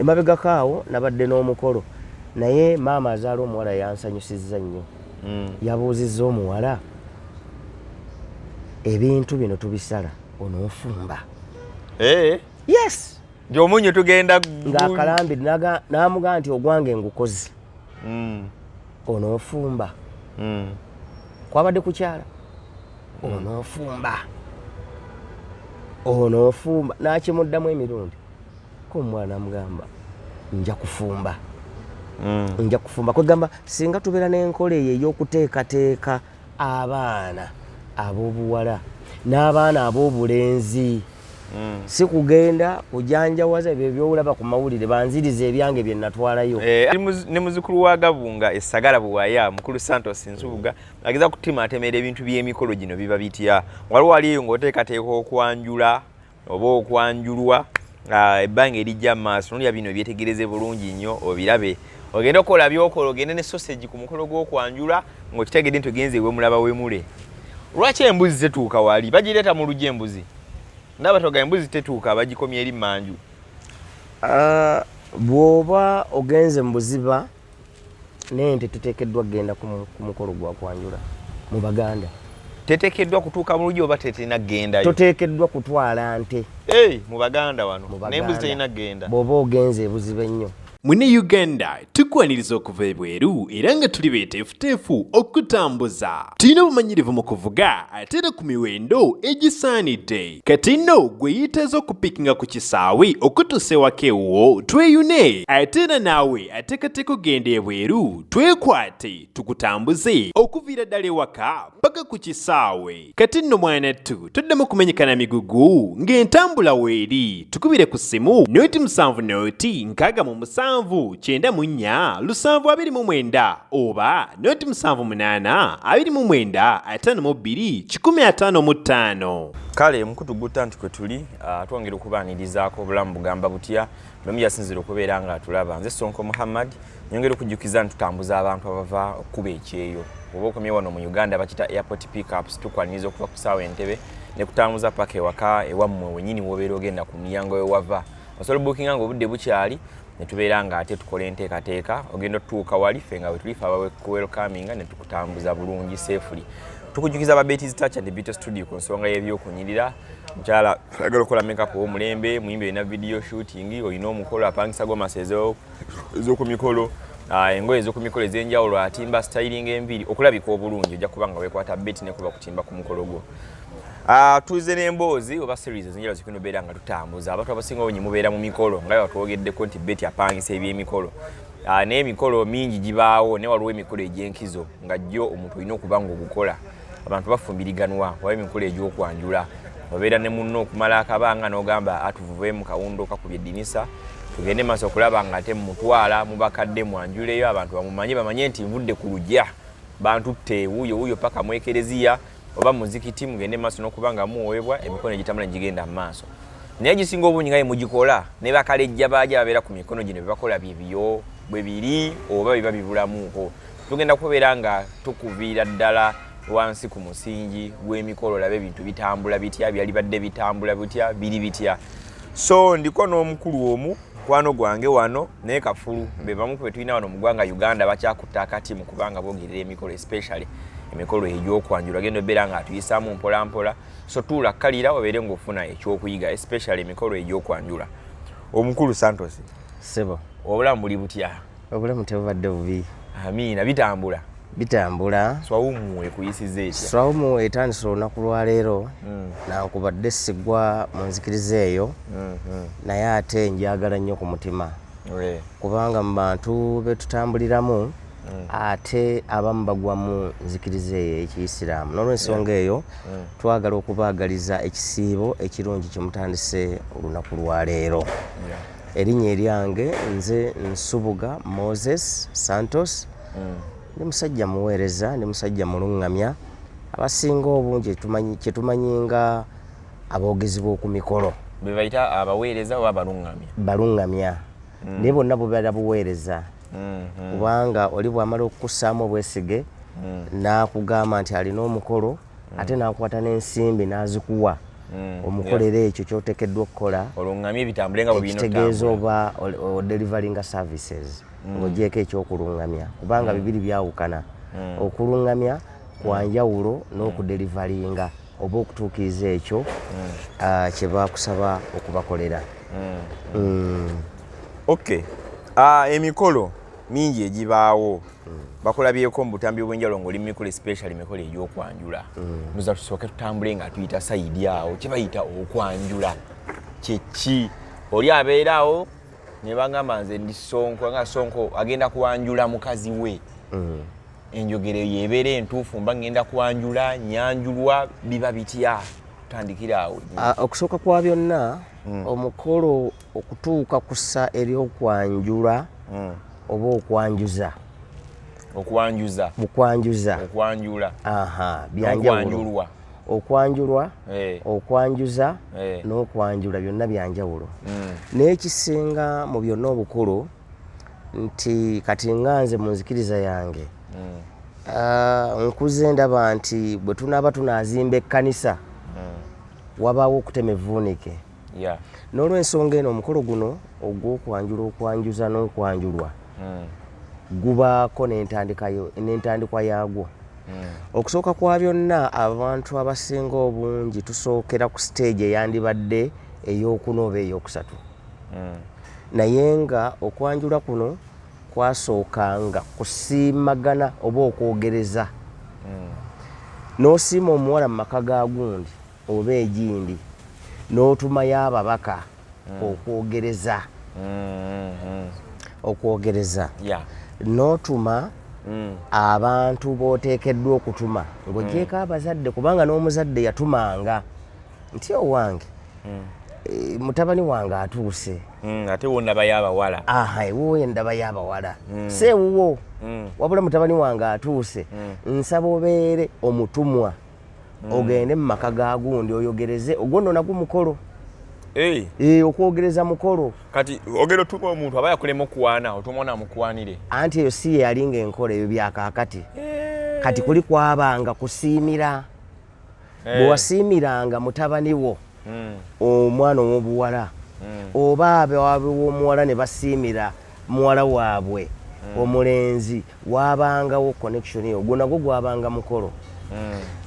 Emabegako awo nabadde n'omukolo naye maama azaala omuwala yansanyusizza nnyo. Hmm. Yabuuzizza omuwala ebintu bino tubisala ononfumba. Eh? Yes. Gy'omunyu tugenda ng'akalambi n'amugamba nti ogwange ngukozi hmm. ononfumba. Hmm. Kwabadde kukyala ononfumba. Ononfumba n'akimuddamu emirundi. omwana amugamba nja kufumba mm. nja kufumba kwegamba singa tubeera n'enkola eyo ey'okuteekateeka abaana ab'obuwala n'abaana ab'obulenzi mm. si kugenda kujanjawaza ebyo ebyowulaba ku mawulire banziriza ebyange bye natwalayo eh, ne muzukulu wa gabunga esagala buwaya mukulu santos nsubuga ageza kutimatemera ebintu by'emikolo gino biba bitya waliwo ali eyo ng'oteekateeka okwanjula oba okwanjulwa ah, ebbanga erijja maaso nolya bino ebyetegereze bulungi nnyo obirabe ogende okukola byokola ogende ne sosage ku mukolo gw'okwanjula ng'okitegedde nti ogenze ewemulaba wemule lwaki embuzi zetuuka wali bagireeta mu lugya embuzi ndaba toga embuzi tetuuka bagikomya eri manju ah, bw'oba ogenze mu buziba n'ente teteekeddwa kugenda ku mukolo gwa kwanjula mu baganda teteekeddwa kutuuka mu lugyo oba teterina kugendayo toteekeddwa kutwala nte hey, mu baganda wano n'embuzi terina kugenda bw'oba ogenze ebuziba ennyo Mune Uganda tukwaniriza okuva ebweru era nga tuli beteefuteefu okutambuza. Tulina obumanyirivu mu kuvuga ate era ku miwendo egisaanidde. kati nno gwe yiteeza okupikinga ku kisaawe okutuusa ewaka ewuwo tweyune ate era naawe ateekateeka okugenda ebweru twekwate tukutambuze okuviira ddala ewaka paka ku kisaawe kati nno mwana ttu toddamu kumenyekana migugu ng'entambula weeri tukubire ku ssimu noti musanvu noti nkaaga mu musanvu kyenda mu nnya lusanvu abiri mu mwenda oba noti musanvu munaana abiri mu mwenda ataano mu bbiri kikumi ataano mu ttaano kale omukutu gutta nti kwe tuli ah, twongera okubaanirizaako obulamu bugamba butya nomu yasinzira okubeera nga atulaba nze sonko muhammad nyongera okujjukiza nti tutambuza abantu abava okukuba ekyeyo oba okomye wano mu uganda bakita airport pickups tukwaniriza okuva ku saawa entebe nekutambuza paka ewaka ewammwe wenyini wobeera ogenda ku mulyango wewava osobola obukinga nga obudde bukyali ne tubeera nga ate tukola enteekateeka ogenda otutuuka wali ffe nga wetulifa abawekuwelkaminga ne tukutambuza bulungi safely tukujukiza ba Betty's Touch and Beauty Studio ku nsonga y'ebyokunyirira mukyala ayagala okukola makeup ow'omulembe muyimbi olina video shooting olina omukolo apangisa gomasi ez'oku mikolo ah, engoye ez'oku mikolo ez'enjawulo atimba styling enviiri okulabika obulungi ojja kuba nga weekwata beti nekuba kutimba ku mukolo gwo Ah, tuze n'emboozi oba series ezinjala zikino beera nga tutambuza abantu abasinga obunyi mubeera mu mikolo nga batwogeddeko nti beti apangisa ebyemikolo ah, naye emikolo mingi gibaawo naye waliwo emikolo egy'enkizo nga jjo omuntu olina okuba nga ogukola abantu bafumbiriganwa oba emikolo egy'okwanjula obeera ne munno okumala akabanga n'ogamba atuvuve mu kawundo kakubye eddinisa tugende maaso okulaba nga ate mumutwala mubakadde mwanjuleyo abantu bamumanye bamanye nti nvudde ku lugya bantutte wuyo wuyo paka mwekereziya oba muzikiti mugende maaso nokuba nga muwowebwa emikono egitambula negigenda mu maaso naye gisinga obungi nga yemugikola ne bakalejja baaja babeera ku mikono gino bebakola byebyo bwe biri oba biba bibulamuuko tugenda kubeera nga tukuviira ddala wansi ku musingi gw'emikolo olaba ebintu bitambula bitya byalibadde bitambula bitya biri bitya so ndiko n'omukulu omu mukwano gwange wano naye kafulu bebamu kubetulina wano mugwanga uganda bakyakutta akati mukubanga bogerera emikolo especially emikolo egyokwanjula genda obeera nga atuyisamu mpolampola so tuula kkalira obeere ngaofuna ekyokuyiga especially emikolo egyokwanjula omukulu santos sebo obulamu buli butya Obulamu tebubadde bubi. Amiina bitambula. Bitambula. Swawumu ekuyisiza ekyo. Swawumu etandise olunaku lwaleero mm. nankubadde sigwa mu nzikiriza eyo mm -hmm. naye ate njagala nnyo ku mutima okay. kubanga mu bantu betutambuliramu mm. ate abamu bagwa mu nzikiriza eyo ekiyisiraamu n'olwensonga yeah. eyo mm. twagala okubaagaliza ekisiibo ekirungi kyemutandise olunaku lwaleero yeah. Erinnya eryange nze Nsubuga Moses Santos. Mm. Ndi musajja muweereza, ndi musajja mulungamya. Abasinga obungi kye tumanyi nga aboogezi b'oku mikolo. Be bayita abaweereza oba abalungamya? Balungamya. Mm. Naye bonna bubeera buweereza. Mm-hmm. Kubanga oli bw'amala okukussaamu obwesige mm. n'akugamba nti alina omukolo. mm. ate nakwata n'ensimbi n'azikuwa mm. omukolera ekyo kyotekeddwa okukola ekitegeeza oba odelivaringa services mm. ng'ogyeko ekyokulungamya kubanga bibiri byawukana okulungamya kwanjawulo n'okudelivaringa oba okutuukiriza ekyo ah, kye bakusaba okubakolera ok ah, emikolo mingi egibaawo mm. bakulabyeko mu butambi obwenjawulo ng'oli mumikolo especially mikolo egyokwanjula mm. muza tusooke tutambule nga tuyita sayidi awo kyebayita okwanjula kyeki oli abeeraawo ne bagamba nze ndi sonko nga sonko agenda kwanjula mukazi we mm. enjogero eyo ebeera entuufu mba ngenda kwanjula nyanjulwa biba bitya tutandikira awo ah, okusooka kwa byonna omukolo okutuuka ku ssa ery'okwanjula mm. oba okwanjuza okwanjuza okwanjuza okwanjula aha byanjawulwa okwanjulwa hey. Eh. okwanjuza hey. Eh. n'okwanjula byonna byanjawulo mm. n'ekisinga mu byonna obukulu nti kati nga nze mu nzikiriza yange mm. uh, nkuze ndaba nti bwe tunaaba tunaazimba ekkanisa mm. wabaawo okutema evvuunike yeah. n'olwensonga eno omukolo guno ogw'okwanjula okwanjuza n'okwanjulwa mm. gubaako n'entandikwa yaagwo mm. okusooka kwa byonna abantu abasinga obungi tusookera ku siteegi eyandibadde ey'okuna oba ey'okusatu mm. naye nga okwanjula kuno kwasookanga kusiimagana oba okwogereza mm. n'osiima omuwala mu maka ga gundi oba egindi n'otumayo ababaka mm. okwogereza mm-hmm. okwogereza n'otuma mm. abantu b'oteekeddwa okutuma ng'ogyeko mm. abazadde kubanga n'omuzadde yatumanga nti owange eh, mutabani wange atuuse ate wo ndaba y'abawala aha ewuwo endaba y'abawala si ewuwo wabula mutabani wange atuuse nsaba obeere omutumwa mm. ogende mu maka ga gundi oyogereze ogwo nno nagwo mukolo hey. hey, okwogereza mukolo kati ogera otuba omuntu aba yakulema okwana otomona amukwanire anti eyo si yeyalinga enkola ebyo byakakati hey. kati kuli kwabanga kusiimira hey. Eh. bwewasiimiranga mutabani wo mm. omwana owobuwala mm. oba ababe womuwala ne basiimira muwala waabwe mm. omulenzi waabangawo connection eyo ogwo nagwo gwabanga mukolo mm.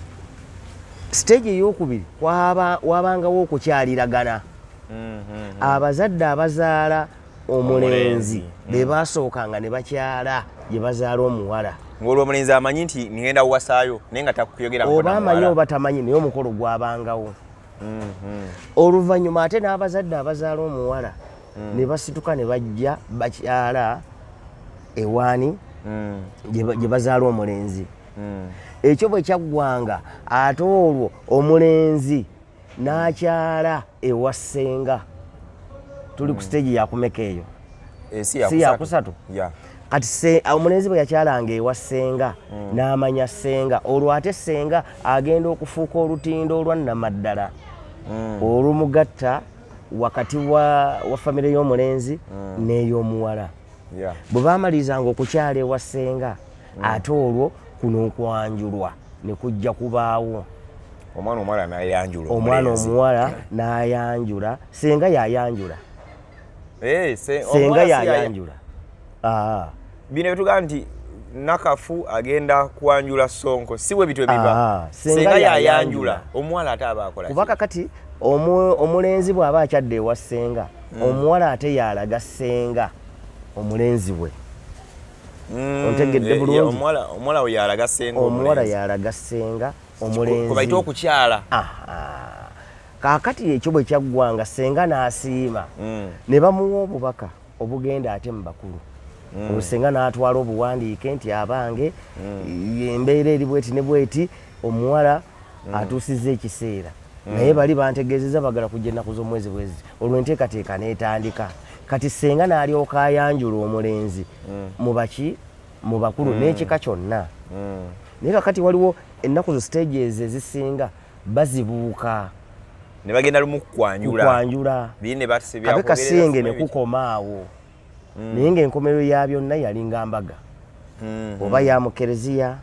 siteegi eyokubiri waabangawo okukyaliragana mm, mm, mm. abazadde abazaala omulenzi mm. be basookanga ne bakyala gye bazaala omuwala ng'olwo omulenzi amanyi nti ngenda wasaayo naye nga takuyogera oba amanyi oba tamanyi naye omukolo gwabangawo mm-hmm. oluvannyuma ate n'abazadde abazaala omuwala mm. ne basituka ne bajja bakyala ewaani mm. gye bazaala omulenzi mm. ekyo bwe kyaggwanga ate olwo omulenzi n'akyala ewa ssenga tuli ku mm. siteegi yakumeka eyo eh, si yakusatu kati omulenzi bwe yakyalanga ewa ssenga mm. n'amanya ssenga olwo ate ssenga agenda okufuuka olutindo olwannamaddala mm. olumugatta wakati wa, wa famire y'omulenzi mm. n'ey'omuwala yeah. bwe baamalirizanga okukyala ewa ssenga mm. ate olwo kuno okwanjulwa ne kujja kubaawo omwana omuwala nayanjula omwana omuwala nayanjula senga yayanjula eh, senga yayanjula ah. bino byetugamba nti nakafu agenda kwanjula sonko si bwe bitwe biba ah, senga yayanjula omuwala ate aba akola kuba kakati omulenzi bw'aba akyadde ewa senga hmm. omuwala ate yalaga senga omulenzi we hmm. ontegedde eh, bulungi omuwala we yalaga senga omuwala yalaga senga omulenzi kubaita okukyala kakati ekyo bwe kyaggwanga senga n'asiima hmm. ne bamuwa obubaka obugenda ate mu bakulu mm. olusenga n'atwala obuwandiike nti abange mm. embeera eri bweti ne bweti omuwala mm. atuusizza ekiseera mm. naye bali bantegeezeza bagala kujja ennaku z'omwezi bwezi olwo enteekateeka n'etandika kati senga n'alyoka ayanjula omulenzi mm. mu baki mu bakulu mm. n'ekika kyonna mm. naye kakati waliwo ennaku zo stages ezisinga bazibuuka ne bagenda lumu kukwanjula kukwanjula bye ne batse bya kabeka singe ne kukoma awo mm. naye nga enkomerero ya byonna yali nga mbaga mm -hmm. oba ya mukereziya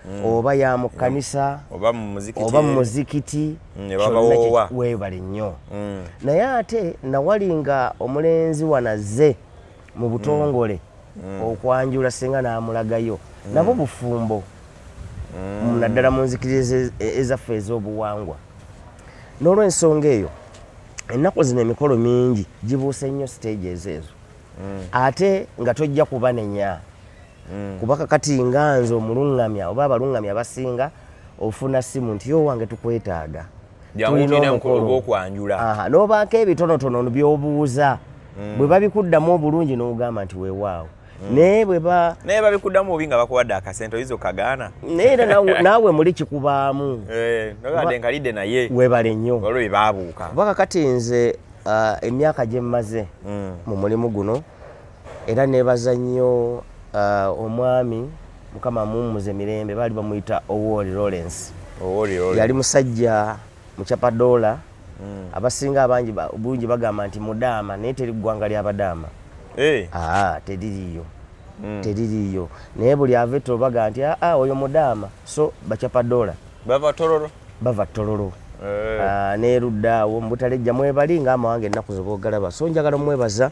mm. oba ya mu kkanisa mm. oba mu muzikiti oba mu muzikiti mm, ne babawowa webale nnyo mm. naye ate nawali nga omulenzi wanaze mu butongole mm. okwanjula senga n'amulagayo mm. nabo bufumbo mm. naddala mu nzikiriza e, e, ezaffe ez'obuwangwa n'olwensonga eyo ennaku zino emikolo mingi gibuuse nnyo siteegi ezo ezo mm. ate nga tojja kubanenya mm. kuba kakati nga nze omuluŋŋamya oba abaluŋŋamya basinga ofuna simu nti yo wange tukwetaaga nobaako ebitonotono byobuuza mm. bwe babikuddamu obulungi nogamba nti wewaawo mm. naye bweba naye babikuddamu obi nga bakuwadde akasente oyinza okagaana naye era naawe muli kikubaamu eh, nobadde nkalidde naye webale nnyo olwo bebabuuka kubanga kati nze ah, emyaka gyemmaze mm. mu mulimu guno Era nebaza nnyo uh, omwami mukama amuwummuze mirembe baali bamuyita Owori Lawrence yali musajja mucapa dola mm. abasinga abangi bulungi bagamba nti mudaama naye teri ggwanga lya badaama hey. Eh. Ah, teririiyo mm. teririiyo naye buli ava etolo baga nti aa ah, ah, oyo mudaama so bacapa dola bava tololo bava tololo hey. Eh. Ah, neruddaawo mubutalejja mwebali nga amawanga ennaku zobogalaba so njagala omwebaza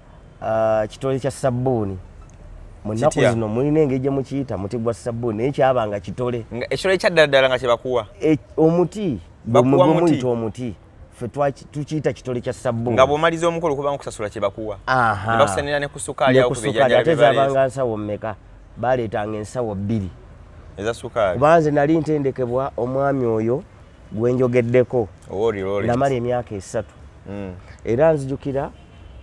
ah, kitole kya sabbuuni mu nnaku zino mulina engeri gye mukiyita muti gwa sabbuuni naye kyabanga kitole ekitole kyaddala ddala nga kyebakuwa e, omuti bwemuyita omuti tukiyita kitole kya sabbuuni nga bwomaliza omukolo kubanga kusasula kyebakuwa nebakusanira ne kusukaali ate zabanga nsawo mmeka baleetanga ensawo bbiri eza sukaali kuba nze nali ntendekebwa omwami oyo gwenjogeddeko namala emyaka esatu hmm. era nzijukira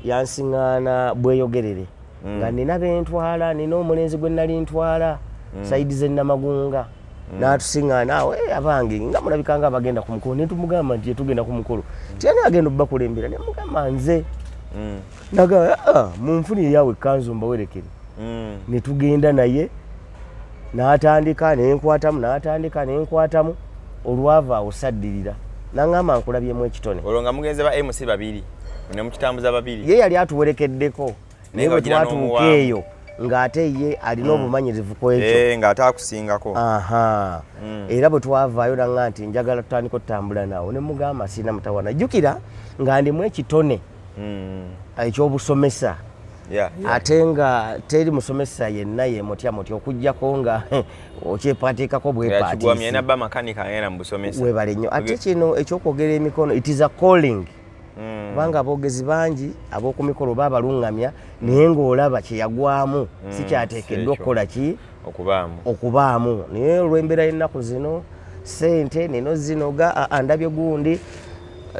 yansiŋŋaana bweyogerere mm. nga nina bentwala nina omulenzi gwe nali ntwala mm. saidi ze namagunga mm. natusiŋŋaana awo eh, abange nga mulabika nga abagenda ku mukulu netumugamba nti yetugenda ku mukulu tyani agenda obubakulembera nemugamba nze nagamba ah, ah, munfuni eyawe kanzu mbawerekere netugenda naye natandika nenkwatamu natandika nenkwatamu olwava awo saddirira nangamba nkulabyemu ekitone olwo nga mugenze ba mc babiri nemukitambuza babiri ye yali atuwerekeddeko naye bwe twatuuka eyo ng'ate ye alina mm. obumanyirivu ku ekyo eh, ng'ate akusingako aha mm. era bwe twavaayo nanga nti njagala tutandika otutambula naawo ne mugamba sirina mutawana jjukira nga ndimu ekitone mm. ekyobusomesa yeah, yeah. ate nga teri musomesa yenna yemutya muti okujjako nga okyepatikako bwepatiisiwebale nnyo ate kino ekyokwogera emikono it is a calling mm. kubanga aboogezi bangi ab'oku mikolo baabaluŋŋamya naye ng'olaba kyeyagwamu mm, sikyateekeddwa okukola ki okubaamu okubaamu naye olw'embeera y'ennaku zino sente nino zinoga ah, ah, ndabye gundi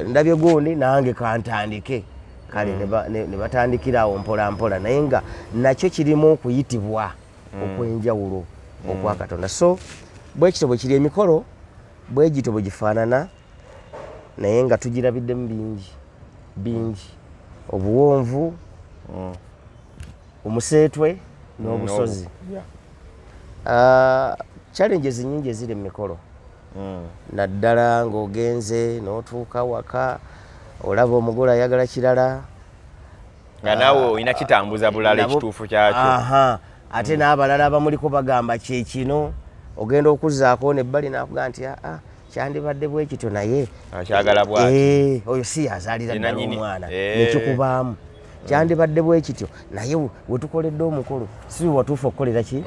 ndabye gundi nange kantandike kale mm. ne batandikira awo mpola mpola naye nga nakyo kirimu okuyitibwa mm. okwenjawulo mm. okwa katonda so bwekityo bwe kiri emikolo bwegityo bwe gifaanana naye nga tugirabiddemu bingi bingi obuwonvu omuseetwe n'obusozi mm, ah, challenges nyingi eziri mu mikolo mm. naddala ng'ogenze n'otuuka waka olaba omugole ayagala kirala nga ah, naawe olina kitambuza bulala ekituufu kyakyo ate mm. n'abalala abamuliko bagamba kyekino ogenda okuzaako nebbali nakuga nti aa ah, kyandibadde bwe kityo naye akyagala bwa eh, oyo si yazalira ddala omwana eh. nekikubaamu kyandibadde bwe kityo naye wetukoledde omukolo si watuufu okukolera ki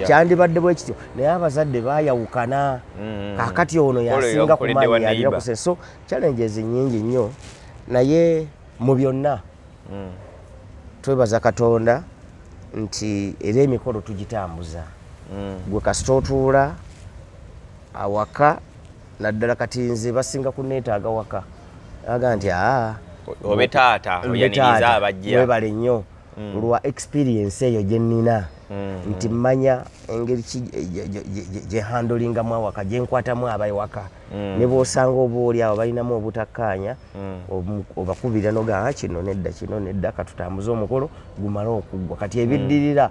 kyandibadde bwe kityo naye abazadde bayawukana mm-hmm. kakati ono yasinga kumanyaakuse so challenges nyingi nnyo naye mu byonna mm. twebaza katonda nti era emikolo tugitambuza mm. gwe kasita otuula awaka naddala kati nze basinga kunneetaaga waka aga nti aa obe taata oyaniriza abajja webale nnyo mm. lwa experience eyo gye nnina mm. nti mmanya engeri ki gye handolingamu awaka gye nkwatamu abawaka mm. ne bw'osanga oba oli awo balinamu obutakkaanya obakubirira nogaa ah, kino nedda kino nedda katutambuze omukolo gumale okuggwa kati ebiddirira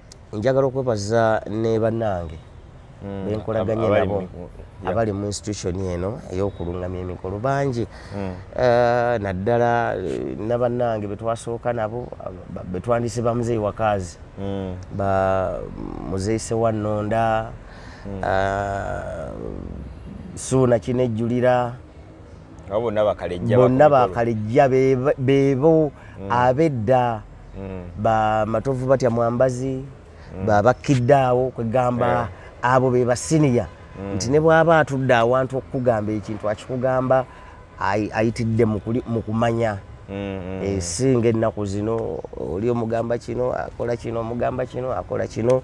Njagala okwebaza ne bannange mm, benkolaganye nabo abali mu institution eno ey'okulungamya emikolo bangi mm. eh, naddala eh, na bannange be twasooka nabo be twandise ba muzeeyi wakaazi mm. ba muzeeyi sewannonda eh, suuna kinejjulira bonna bakalejja bebo abedda mm. ba matovu batya mwambazi mm. ba bakidde awo kwegamba yeah. abo be basiniya mm. nti ne bwaba atudde awantu okukugamba ekintu akikugamba ayitidde mu kumanya mm-hmm. esinga eh, ennaku zino oli omugamba kino akola kino omugamba kino akola kino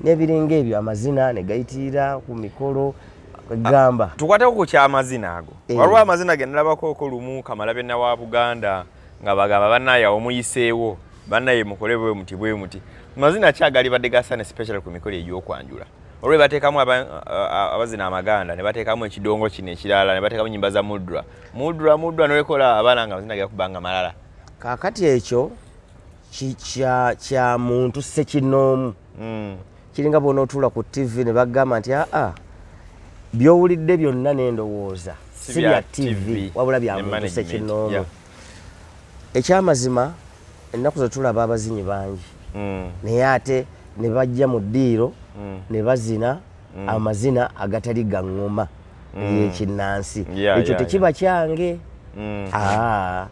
nebiringa ebyo amazina negayitirira ku mikolo gamba tukwateko ku kyamazina ago eh. waliwo amazina genalabako oko lumu kamala bena wa buganda nga bagamba banaye awo muyiseewo banaye mukole bwe muti bwe muti mazina ki agalibadde gasana especially ku mikolo egy'okwanjula olwe bateekamu abazina amaganda ne bateekamu ekidongo kino ekirala ne bateekamu nyimba za mudra mudra mudra nolekola abaana nga mazina gakubanga malala kakati ekyo kya muntu sekinoomu mm. kiringa bwonotuula ku tv ne bagamba nti aa byowulidde byonna nendowooza si bya tv wabula bya muntu sekinoomu ekyamazima ennaku zetulaba abazinyi bangi mm. naye ate ne bajja mu ddiiro mm. ne bazina amazina agatali gaŋŋoma mm. yekinnansi yeah, ekyo yeah, tekiba yeah. kyange mm. ah,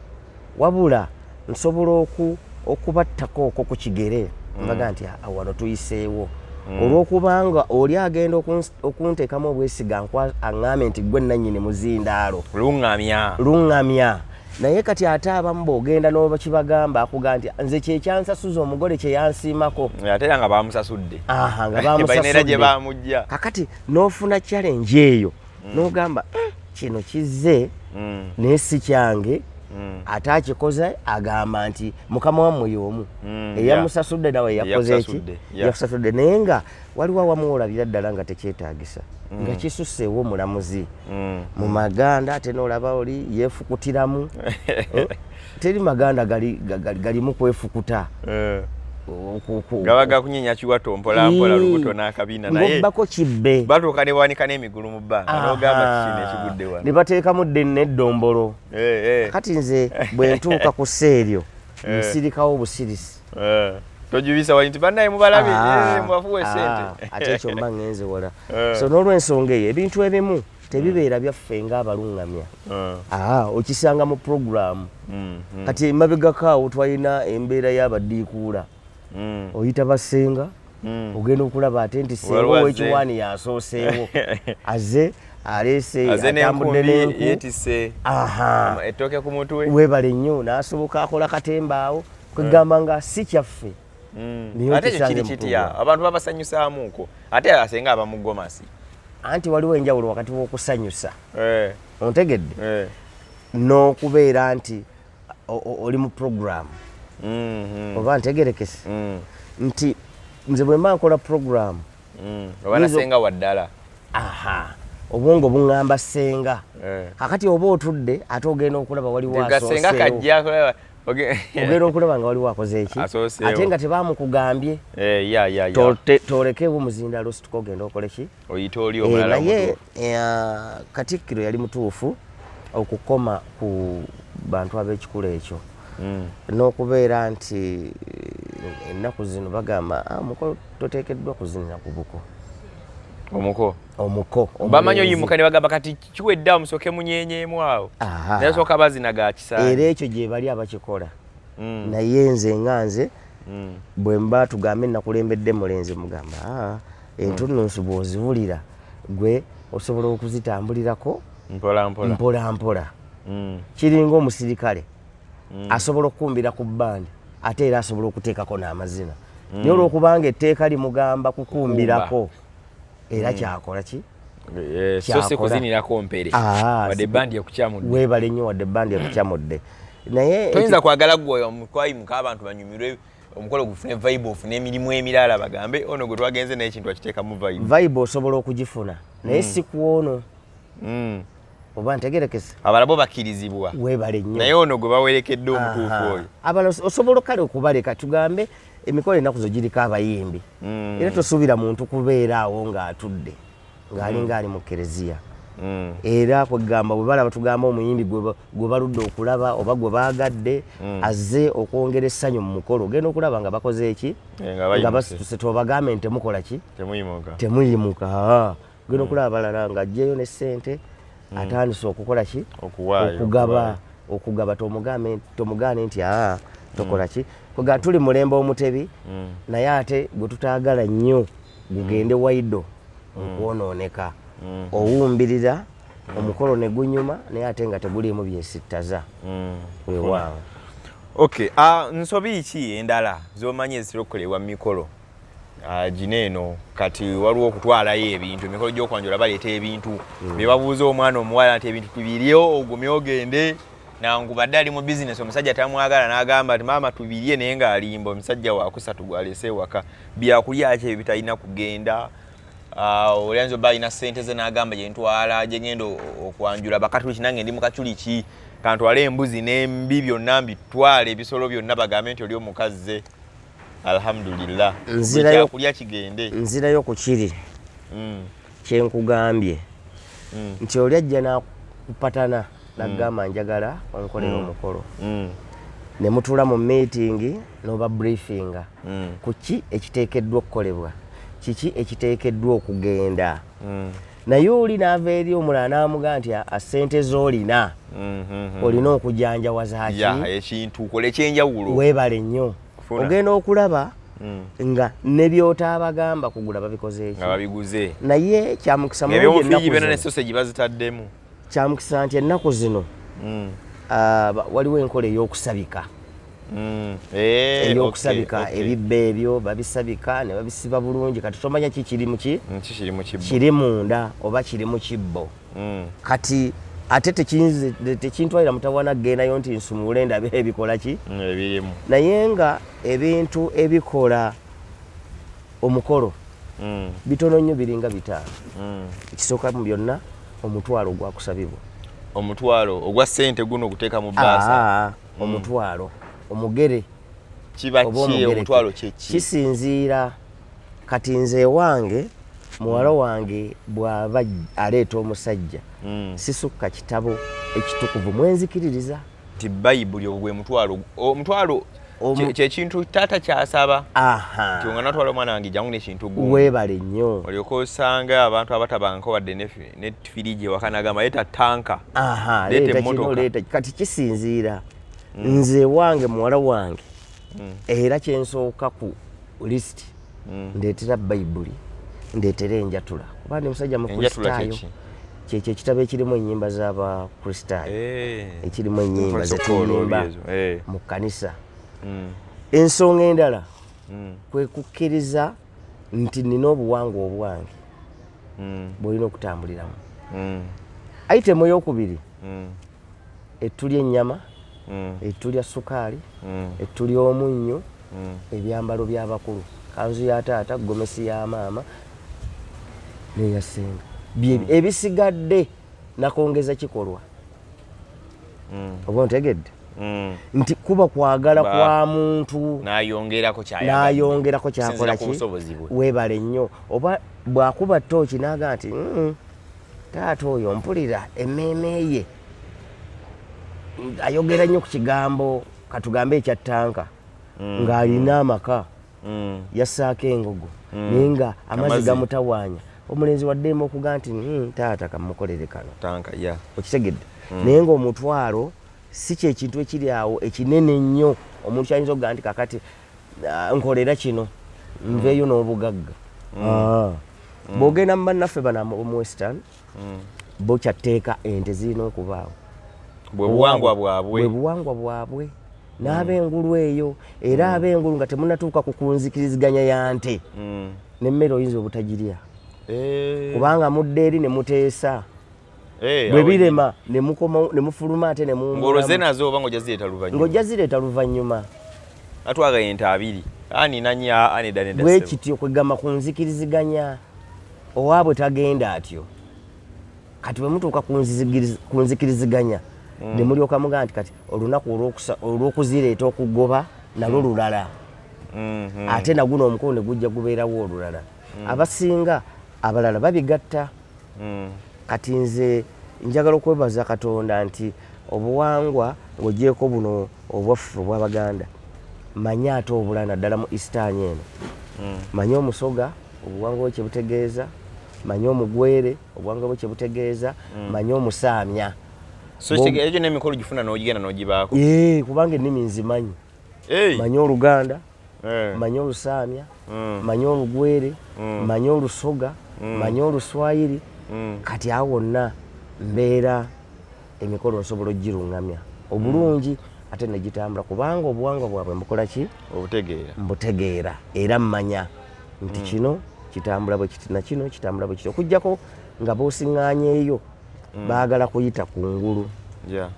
wabula nsobola oku okubattako okwo ku kigere mm. mbaga nti ah, wano tuyiseewo mm. olwokubanga oli agenda okunteekamu obwesiga aŋŋambe nti gwe nannyini muzindaalo luŋŋamya luŋŋamya naye kati ate abamu bogenda nobakibagamba akuga nti nze kyekyansasuza omugole kyeyansiimako ate nga bamusasudde nga bamusasuddekakati nofuna challenge eyo mm. nogamba eh, kino kizze mm. naye si kyange mm. ate akikoze agamba nti mukama wamwe yomu mm, eyamusasudde yeah. nawe yakozeeki yakusasudde yeah. naye nga waliwo awamu olabira ddala nga tekyetagisa mm. nga kisuseewo mulamuzi mm. mu maganda ate nolaba oli yefukutiramu eh? teri maganda gali galimu kwefukuta eh. gaba gakunyenya kiwato mpolampola mm. lubuto n'akabina nayeobako kibbe batuuka ne bawanika n'emigulu mu bbanga n'ogamba kikino ekigudde wano ne bateekamu ddenne eddombolo eh, eh. kati nze bwe ntuuka ku ssa eryo nsirikawo obusirisi tojubisa wali nti bannaye mubalabe ah, mubafuwa esente ah, ate ekyo mba ngenze wala so n'olwensonga eyo ebintu ebimu tebibeera byaffe nga abalungamya ah. ah, okisanga mu programu mm, mm. kati emabegako awo twalina embeera y'abadiikuula mm. oyita basenga ogenda okulaba ate nti senga owekiwaani yasooseewo aze aleese atambudde nenkuyetise etooke ku mutwe webale nnyo n'asoboka akola katemba awo kwegamba nga si kyaffe ate ekyo kiri kitya abantu babasanyusaamuuko ate asenga abamugomasi anti waliwo enjawulo wakati w'okusanyusa eh. ontegedde eh. n'okubeera nti oli mu programu mm-hmm. oba ntegerekese mm. nti nze bwe mba nkola programu mm. oba nasenga waddala aha obwongo buŋŋamba senga eh. kakati oba otudde ate ogenda okulaba waliwo asooseewo ogenda okulaba nga waliwo akoze eki ate nga tebamukugambye eh, tolekewo muzinda losituka ogenda okoleki eh, naye eh, katikkiro yali mutuufu okukoma ku bantu ab'ekikula ekyo hmm. n'okubeera nti ennaku zino bagamba ah, muko toteekeddwa kuzinira ku buko omuko omuko bamanyi oyimuka ne bagamba kati kiwedde awo musooke munyenyemu awo naye sooka bazina ga kisaani era ekyo gye bali abakikola mm. naye nze nga nze mm. bwe mba tugambe nakulembedde mulenzi mugamba ah, entunnunsi bw'oziwulira gwe osobola okuzitambulirako mpola mpola mm. kiringa omusirikale asobola okukumbira ku bbandi ate era asobola okuteekako n'amazina naye olwokubanga etteeka limugamba kukumbirako era hmm. kyakola ki eh, sose kuzinirako mpere ah, wadde bandi ekukyamudde webale nnyo wadde bandi ekukyamudde naye toyinza kwagala gwoyo omukwayimuka abantu banyumirwe omukolo gufune vibe ofune emirimu emirala bagambe ono gwe twagenze naye ekintu akiteekamu vibe vibe osobola okugifuna naye hmm. si kwono hmm. oba ntegerekese abala bo bakkirizibwa webale nnyo naye ono gwe bawerekedde omutuufu oyo abala osobola kale okubaleka tugambe emikolo enaku zo giriko abayimbi mm. era tosuubira muntu kubeera awo ng'atudde ng'alinga mm. ali mu kereziya mm. era kwegamba bwe balaba tugamba omuyimbi gwe baludde okulaba oba gwe baagadde mm. azze okwongera essanyu mu mukolo ogenda okulaba nga bakoze eki eh, nga basituse tobagambe nti temukola ki temuyimuka genda okulaba abalala nga ajjeyo ne sente mm. atandise okukola ki okugaba okugaba tomugambe tomugaane nti aa ah, tokola mm. ki kuga tuli mulembe omutebi mm. naye ate gwe tutaagala nnyo gugende waido okwonooneka owumbirira omukolo ne gunyuma naye ate nga teguliimu byesittaza wewaawo okay ah, nsobi ki endala zomanyi ezitera okukolebwa mu mikolo Ah, gino eno kati waliwo okutwalayo ebintu emikolo gyokwanjula baleeta ebintu mm. bebabuuza omwana omuwala nti ebintu tubirye ogumye ogende nangubadde ali mu bizinesi omusajja tamwagala nagamba ti maama tubirye naye ngaalimba omusajja wakusatu gwalese ewaka byakulya kye bitalina kugenda ah, olanza oba alina sente ze nagamba gyentwala gyengenda okwanjula bakatuliki nange ndi mukatuliki kantwale embuzi nembi byonna mbitwale ebisolo byonna bagambe nti oli omukazze alhamdulillah nzirayo kulya kigende nzirayo ku kiri mm. kyenkugambye mm. nti oli ajja nakupatana mm. nagamba njagala onkolera mm. omukolo mm. ne mutula mu meeting noba briefinga mm. kuki ekiteekeddwa okukolebwa kiki ekiteekeddwa okugenda mm. naye oli naava eri omulala namugaa nti asente zolina mhm. olina okujanjawazaki ekintu ukole ekyenjawulo webale nnyo ogenda okulaba mm. nga nebyotaabagamba kugula babikozeeki babiguze naye kyamukisa bazitaddemu kyamukisa nti ennaku zino mm. ah, waliwo enkola eyokusabika Mm, eh, ebyokusabika okay, okay. ebibba ebyo babisabika ne babisiba bulungi kati tomanya ki kirimu ki mm, kiri munda oba kiri mu kibbo mm. kati ate tekintwalira mutawana gendayo nti nsumule ndabe ebikola ki mm, naye nga ebintu ebikola omukolo mm. bitono nnyo biringa bitaano mm. ekisooka mu byonna omutwalo ogwakusabibwa omutwalo ogwa sente guno okuteeka mu baasa omutwalo omugere kiba ki omutwalo kyeki kisinziira kati nze ewange muwala mm. wange bw'aba aleeta omusajja mm. sisukka kitabo ekitukuvu mwenzikiririza nti bayibuli ogwo gwe mutwalo omutwalo kyekintu taata kyasaba nti nga natwala omwana wange jangu nekintu gu webale nnyo olyoka osanga abantu abatabanko wadde ne firiji ewaka nagamba leeta tanka leeta emotoka kati kisinziira mm. nze wange muwala wange mm. era kyensooka ku lisiti mm. ndeetera bayibuli ndeetera enjatula kuba ndi musajja mukristaayo kyekyo ekitabo ekirimu enyimba z'abakristaayo eh. ekirimu enyimba zetuyimba eh. mu kkanisa mm. ensonga endala mm. kwe kukkiriza nti nina obuwangwa obwange mm. bwolina okutambuliramu mm. aitemu eyokubiri mm. ettu lyennyama mm. ettu lya sukaali mm. ettu lyomunnyo mm. ebyambalo byabakulu kanzu ya taata gomesi ya maama neyasenga mm. ebisigadde nakongeza kikolwa mm. oba ontegedde mm. nti kuba kwagala kwa muntu nayongerako kyakolaki webale nnyo oba bwakuba tooki naga nti taata oyo mpulira emmeeme ye ayogera nnyo ku kigambo katugambe ekya ttanka mm. ng'alina amaka mm. yasaako engogo mm. naye nga amazzi gamutawaanya omulenzi waddemba okuga nti hmm, taata kamukolere kano okitegedde mm. naye ngaomutwalo si kyekintu ekiri awo ekinene nnyo omuntu kyayinza okuga nti kakati ah, nkolera kino nveeyo n'obugagga ah. bwogenda mu bannaffe bana omu western mm. bukya tteeka ente zirina okubaawo bwebuwangwa bwabwe bwebuwangwa bwabwe n'ab'engulu eyo era mm. ab'engulu nga temunatuuka ku kunzikiriziganya ya nte mm. n'emmere oyinza obutagirya eh. kubanga mudde eri ne muteesa eh, bwe birema ne mufuluma ate nemungoze nazo oba ng'ojja zireeta luvannyuma ng'ojja zireeta luvannyuma atwagaye ente abiri ani nanya ani daneda bwe kityo kwegamba kunzikiriziganya owaabwe tagenda atyo kati bwe mutuuka ku nzikiriziganya mm. ne mulyoka mugamba nti kati olunaku olw'okuzireeta okugoba nalwo mm. lulala mm-hmm. ate naguno omukulu ne gujja gubeerawo olulala mm. abasinga abalala babigatta kati nze njagala okwebaza katonda nti obuwangwa ng'ogyeko buno obwaffe obwabaganda manya ate obulana ddala mu isitaani eno manya omusoga Obuwangwa bwo kye butegeeza, manya omugwere. Obuwangwa bwo kye butegeeza, mm. manya omusaamya. So ekyo n'emikolo gifuna n'ogigenda n'ogibaako? Ee, eh, kubanga ennimi nzimanyi. Manya Oluganda, eh. manya Olusaamya, mm. manya Olugwere, mm. manya Olusoga, manya Oluswayiri. Kati awo wonna mbeera emikolo nsobola ogirungamya obulungi ate negitambula kubanga obuwangwa bwabwe mbukola ki obutegeera mbutegeera era mmanya nti mm. kino kitambula bwe kiti na kino kitambula bwe kiti okujjako nga bosiŋŋanyeeyo mm. baagala kuyita ku ngulu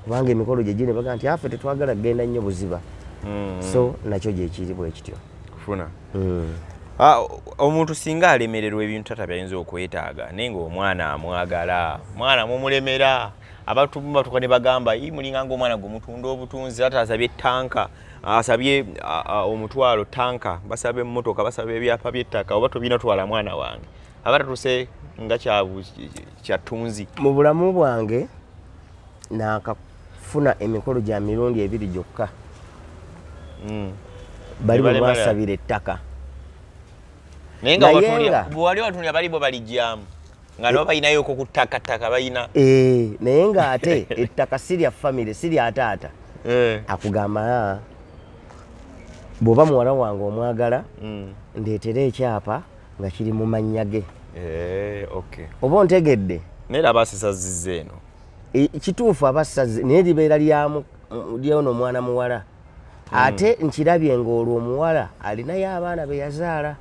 kubanga emikolo gye gine baga nti afe tetwagala kugenda nnyo buziba mm. so nakyo gyekiri bwe kityo kufuna hmm. ah, omuntu singa alemererwa ebintu tata byayinza okwetaaga naye ngaomwana amwagala mwana mumulemera abantu batuka ne bagamba i mulinga ngaomwana gwe mutunda obutunzi tata asabye tanka asabye omutwalo tanka basaba emmotoka basaba ebyapa byettaka oba tobina twala mwana wange aba tatuse nga kyatunzi mu bulamu bwange naka funa emikolo gya mirundi ebiri gyokka mm. bali bwebasabira ettaka naye nga wewali watunira bali bwe balijyamu nga nabo balinayoko ku ttakattaka balina eh, naye nga ate ettaka si lya famire si lya taata eh. akugamba ah, bw'oba muwala wange omwagala mm. ndeetera ekyapa nga kiri mu mannya ge eh, oba ontegedde naye laba asisazizza eno e, kituufu abassazi naye libeera lyamu lyono omwana muwala hmm. ate nkirabye ngaolwo omuwala alinayo abaana beyazaala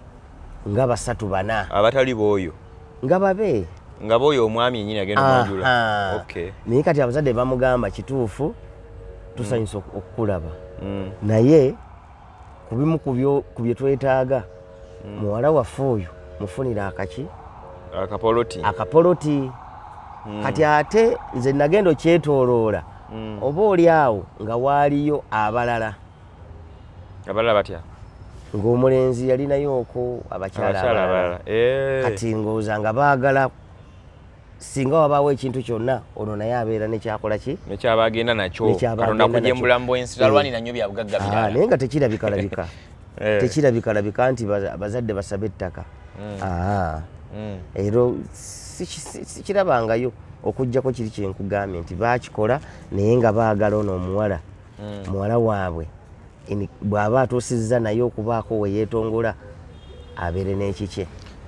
nga basatu bana abatali booyo nga babe nga boyo omwami enyini agenda omanjula okay. naye kati abazadde bamugamba kituufu tusanyusa mm. okukulaba mm. naye ku bimu ku bye twetaaga hmm. muwala waffe oyo mufunire akaki akapoloti akapoloti hmm. kati ate nze nagenda okyetoloola hmm. oba oli awo nga waaliyo abalala abalala batya ng'omulenzi yalinayo oko abakyala abalala eh. kati ngooza nga baagala singa wabaawo ekintu kyonna ono naye abeera nekyakola ki nekyaba agenda nakyo katonda kujja mubulamu bwensi talwanira nnyo byabugagga ah, birala naye nga tekirabikalabika eh. tekirabikalabika nti bazadde basaba ettaka hmm. ah. hmm. era sikirabangayo okujjako kiri kyenkugambye nti bakikola naye nga baagala ono omuwala hmm. muwala waabwe bw'aba atuusizza naye okubaako we yeetongola abeere n'ekikye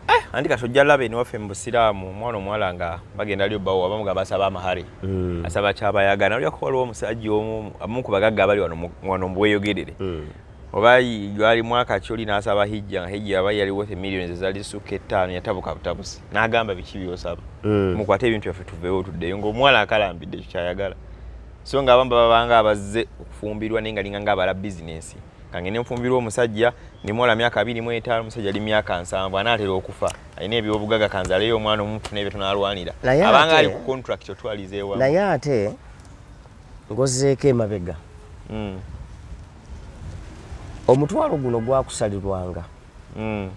eh, anti kati ojja laba eniwaffe mu busiraamu omwana omuwala nga bagenda lyo bawo abamu ga basaba amahare hmm. asaba kyabayagana olya kuba waliwo omusajja omu abamu ku bagagga abali wano muweyogerere hmm. oba gwali mwaka ki oli n'asaba hijja nga hijja aba yaliwo the millions ezali zisukka ettaano yatabuka butabusi n'agamba biki byosaba hmm. mukwate ebintu byaffe tuveewo tuddeyo ng'omuwala akalambidde ekyo kyayagala so nga abamu babanga abazze okufumbirwa naye nga linganga abala bizinensi kange ne nfumbirwa omusajja ndimwola myaka abiri mu etaano omusajja ali myaka nsanvu anaatera okufa alina ebyobugaga kanzaleyo omwana omufuna ebyo tunalwanira abanga ali ku contract otwalizeewa naye ate ngozeeko emabega hmm. omutwalo guno gwakusalirwanga hmm.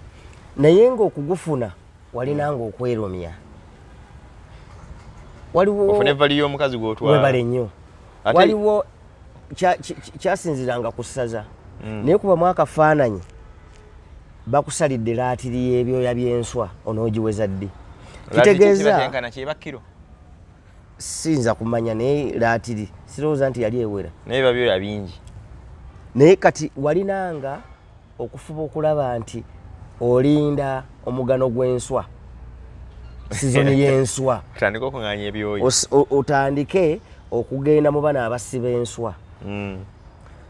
naye ngaokugufuna walinanga okwerumya waliwowebale nnyo waliwo kyasinziranga ku ssaza mm. naye kubamu akafaananyi bakusalidde laatiri y'ebyoya by'enswa onoogiweza ddi kitegeeza siyinza kumanya naye laatiri sirowooza nti yali ewera naye babyoya bingi naye kati walinanga okufuba okulaba nti olinda omugano gw'enswa sizoni y'enswa otandike okugenda mu bana abasiba enswa hmm.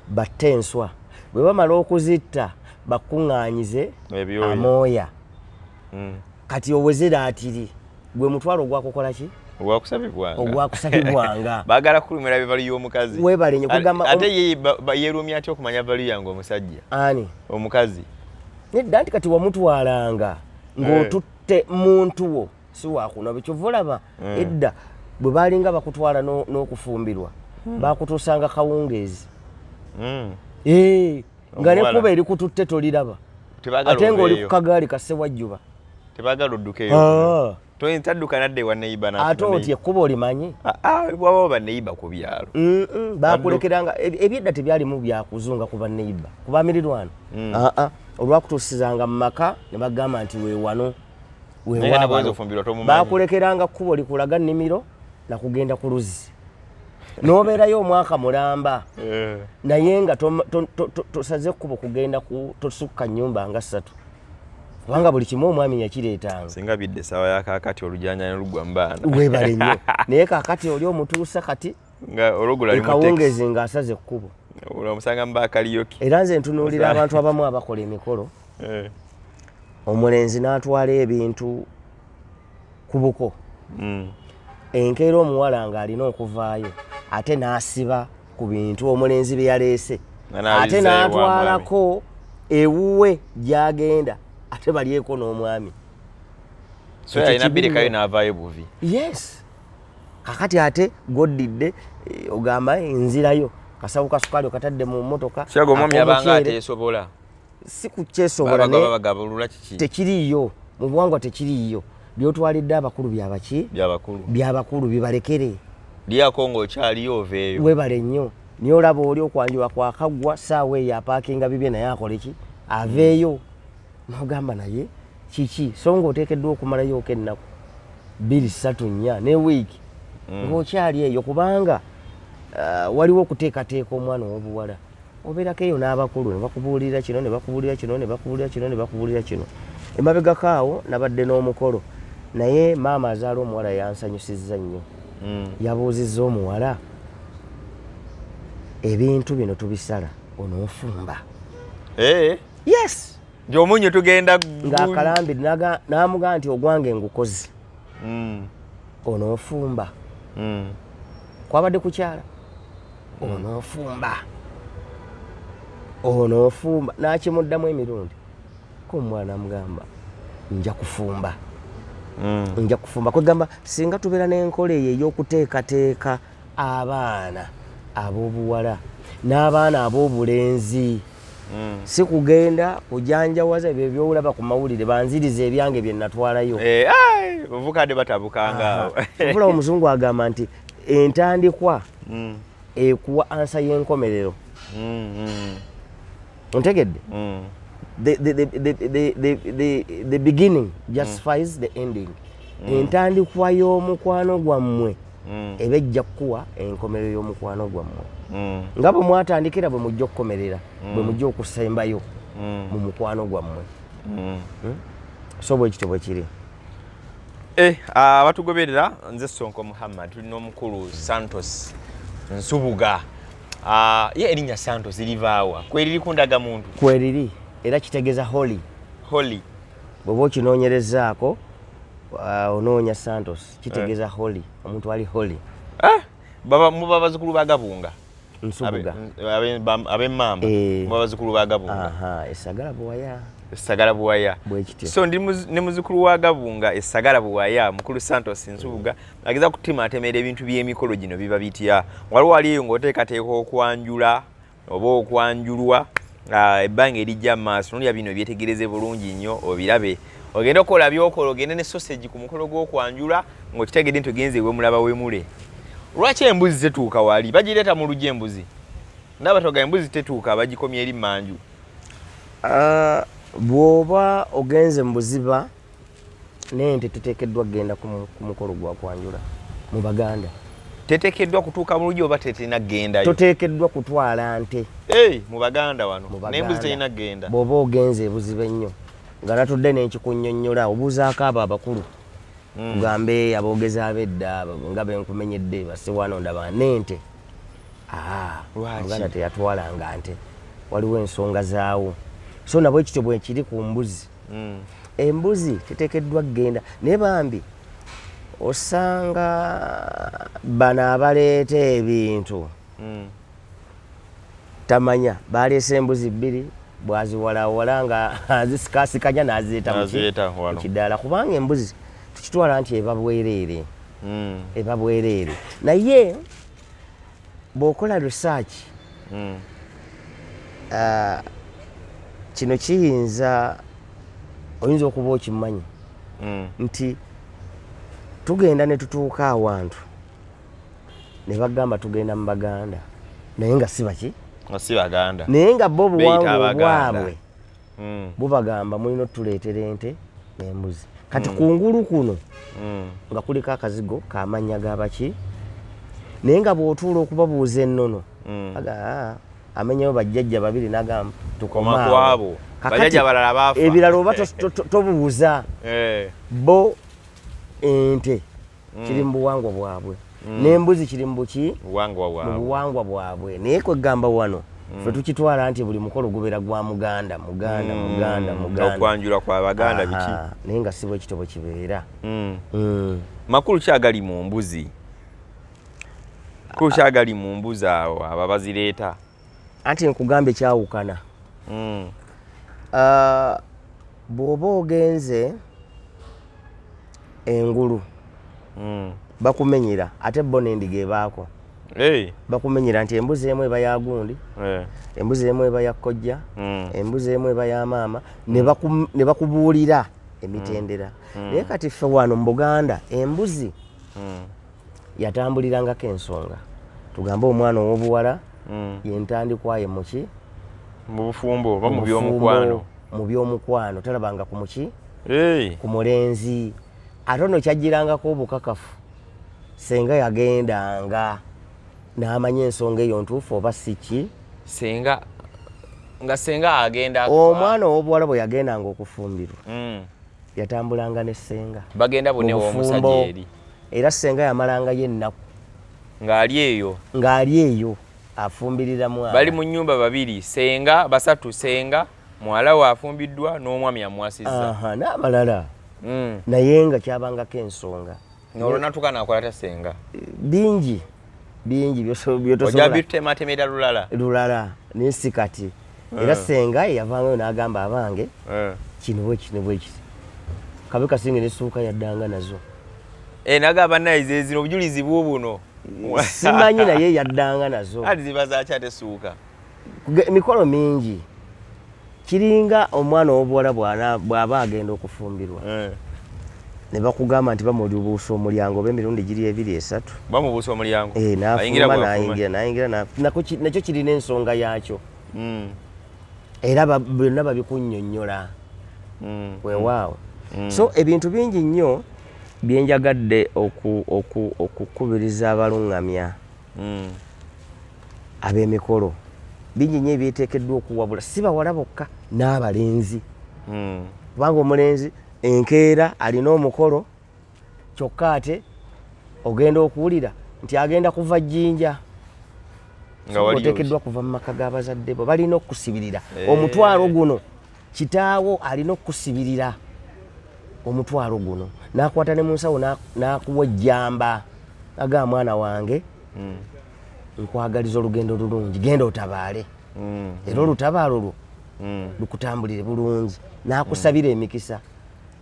batte enswa bwe bamala okuzitta bakuŋŋaanyize amooya hmm. kati oweze laatiri gwe mutwalo ogwakukola ki ogwakusabibwanga ogwakusabibwanga bagala kulumira bivalu y'omukazi webale nyo kugamba ate ye yerumya atya okumanya valu yange omusajja ani omukazi nedda nti kati wamutwalanga ng'otutte eh. muntu wo si wakuno bekyova olaba eh. edda bwe baalinga bakutwala n'okufumbirwa hmm. bakutuusanga kawungeezi hmm. eh, nga nekuba erikututte toliraba ate nga oli ku kagaali ka ssewajjuba tebagala oddukeyo ah. tadduka nadde wa neiba ate oti ekkuba olimanyi ah, ah, wabawo baneiba ku byalo bakulekeranga ebyedda tebyalimu byakuzunga ku baneiba ku bamirirwano mm. olwakutuusizanga mu maka ne bagamba nti wewano bakulekeranga kkubo likulaga nnimiro nakugenda ku luzzi nobeerayo omwaka mulamba eh. naye nga tosaze kkubo kugenda tosukka nyumba nga ssatu kubanga buli kimu omwami yakireetanga singa bidde esawa ya kakati olujanjana lugwa mbaana webale nnyo naye kakati oli omutuusa kati ekawungezi ng'asaze ekkubo omusanga mubakaliyoki era nze ntunuulira abantu abamu abakola emikolo eh. omulenzi n'atwala ebintu ku buko mm. enkeera omuwala ng'alina okuvaayo ate n'asiba ku bintu omulenzi bye yaleese ate n'atwalako ewuwe gy'agenda ate balyeko n'omwami so yalina birekayo n'avaayo buvi yes kakati ate goddidde eh, ogamba enzirayo kasawo kasukaali okatadde mu mmotoka kiraga omwami abanga ateesobola si kukyesobola tekiriiyo mu buwangwa tekiriiyo byotwalidde abakulu byabaki byabakulu bibalekere lyako ngaokyaliyo oveeyo webale nnyo niye olaba oli okwanjula kwakaggwa saawa eyo apaakinga bibye naye akoleki aveeyo nogamba naye kiki so nga oteekeddwa okumalayooko ennaku bbiri ssatu nnya ne wiiki mm. ngaokyali eyo kubanga uh, waliwo okuteekateeka omwana owobuwala Obeerako eyo n'abakulu ne bakubuulira kino ne bakubuulira kino ne bakubuulira kino ne bakubuulira kino. Emabegako awo nabadde n'omukolo naye maama azaala omuwala yansanyusizza nnyo. Hmm. Yabuuzizza omuwala ebintu bino tubisala ononfumba hey. Eh? yes nti omunyo tugenda ngaakalambir namugaa nti ogwange ngukozi mm. ononfumba mm. kwabadde kukyala ono ofumba ono ofumba nakimuddamu emirundi ko omwana amugamba nja kufumba mm. nja kufumba kwegamba singa tubeera n'enkola eyo ey'okuteekateeka abaana ab'obuwala n'abaana ab'obulenzi mm. si kugenda kujanjawaza ebyo ebyowulaba ku mawulire banziriza ebyange bye natwalayo eh, obuvukadde batabukanga obula omuzungu agamba nti entandikwa mm. ekuwa ansa y'enkomerero mm-hmm. ontegedde mm. the beginning justifies mm. the ending mm. entandikwa y'omukwano gwammwe mm. eba ejja kukuwa enkomerero y'omukwano gwammwe mm. nga bwe mwatandikira bwe mujja okukomerera mm. bwe mujja okusembayo mm. mu mukwano gwammwe mm. mm? so bwekityo bwe kiri Eh, ah, abatugoberera nze sonko muhammad tuli n'omukulu santos nsubuga ah, ye erinnya santos lirivaawa kweriri kundaga muntu kweriri era kitegeza holy holy bweoba okinoonyerezaako ah, onoonya santos kitegeza eh. holy omuntu ali holy baba mubabazukulu bagabunga nsubuga abemamba eh. mubabazukulu ba gabunga esagala buwaya esagala buwaya bwekityo so ndi ne muzukulu wa gabunga esagala buwaya mukulu santos nsubuga mm. ageza kutima atemera ebintu by'emikolo gino biba bitya waliwo ali eyo ng'oteekateeka okwanjula oba okwanjulwa Ah, ebbanga erijja mu maaso nolya bino byetegereze bulungi nnyo obirabe ogende okukola byokola ogende ne sosegi ku mukolo gw'okwanjula ng'okitegedde nti ogenze ewe mulaba wemule lwaki embuzi zetuuka wali bagireeta mu lugya embuzi ndaba toga embuzi tetuuka bagikomya eri manju ah, bw'oba ogenze mu buziba n'ente teteekeddwa kugenda ku mukolo gwa kwanjula mu baganda teteekeddwa kutuuka mu lugyo oba teterina kugendayo toteekeddwa kutwala nte mu baganda wano nembuzi terina kugenda bw'oba ogenze ebuzibu ennyo nga natudde n'ekikunnyonnyola obuuzaako abo abakulu hmm. kugambe aboogezi ab'edda nga benkumenyedde basiwaano ndaba n'ente omuganda teyatwalanga nte waliwo ensonga zaawo so nabwekityo bwekiri ku mbuzi mm. embuzi tetekeddwa kugenda naye bambi osanga bano abaleeta ebintu mm. tamanya baleese embuzi bbiri bwaziwalawala nga azisikasikanya nazireeta mukidaala kubanga embuzi tukitwala nti eba bwereere mm. eba bwereere naye bwokola research mm. uh, kino kiyinza oyinza okuba okimanyi mm. nti tugenda ne tutuuka awantu ne bagamba tugenda mu baganda naye nga si baki nga si baganda naye nga bo obuwangwa obwabwe mm. bubagamba mulina otuleetera ente nembuzi kati mm. kungulu kuno mm. nga kuliko akazigo kamanya gabaki naye nga bwotuula okubabuuza enono mm. aga ah, amenyayo bajjajja babiri nagamba tukomaabo ebirala oba tobubuza eh. bo ente mm. kiri mu buwangwa bwabwe mm. n'embuzi kiri mu buki mu buwangwa bwabwe naye kwegamba wano mm. fe tukitwala nti buli mukolo gubeera gwa muganda muganda mm. muganda mugandaokwanjula kwa baganda biki naye nga sibwa ekitobo kibeera mm. mm. makulu kyagali mu mbuzi makulu kyagali mu mbuzi awo aba bazireeta anti nkugamba ekyawukana mm. uh, Bwoba ogenze engulu bakumenyera ate bo nendiga ebaako bakumenyera nti embuzi emu eba ya gundi eh. embuzi emu eba ya kojja hmm. embuzi emu eba ya maama hmm. ne bakubuulira emitendera hmm. naye kati ffe wano mu buganda embuzi yatambulirangako ensonga tugambe omwana ow'obuwala mm. yentandikwaye muki mu bufumbo oba mu by'omukwano mu by'omukwano talabanga ku muki ku mulenzi ate ono kyajjirangako obukakafu senga yagendanga n'amanya ensonga eyo ntuufu oba si ki senga nga senga agenda omwana ow'obuwala bwe yagendanga okufumbirwa mm. yatambulanga ne senga bagenda bunewoomusajja eri era senga yamalangayo ennaku ng'ali eyo ng'ali eyo afumbirira mwana bali mu nyumba babiri senga basatu senga muwala we afumbiddwa n'omwami amuwasizza n'abalala mm. naye nga kyabangako ensonga nolunatuka nakola ta senga bingi bingi byotematemera lulala lulala naye si kati era eh. senga eyavangayo nagamba abange eh. kino bwekino bwekiti kabe kasinge nesuuka yaddanga nazo eh, nagamba naye zezino obujulizi bwo buno simanyi naye yaddanga nazo ati ziba zakyatesuuka emikolo mingi kiringa omwana owobuwala bwaba agenda okufumbirwa ne bakugamba nti bamubuusa omulyango oba emirundi giri ebiri esatu bamubuusa omulyango eh, nafuluma nayingira nayingira nakyo kirina ensonga yaakyo hmm. era byonna babikunnyonnyola hmm. wewaawo hmm. so ebintu bingi nnyo byenjagadde okukubiriza abaluŋŋamya ab'emikolo bingi nnyo ebyeteekeddwa okuwabula si bawala bokka n'abalenzi kubanga omulenzi enkeera alina omukolo kyokka ate ogenda okuwulira nti agenda kuva jjinja oteekeddwa kuva mu maka g'abazadde bo balina okukusibirira eh. omutwalo guno kitaawo alina okukusibirira omutwalo guno n'akwata ne mu nsawo n'akuwa ejjamba aga mwana wange hmm. nkwagaliza olugendo lulungi genda otabaale mm. era olutabaalo lwo mm. lukutambulire bulungi nakusabira mm. emikisa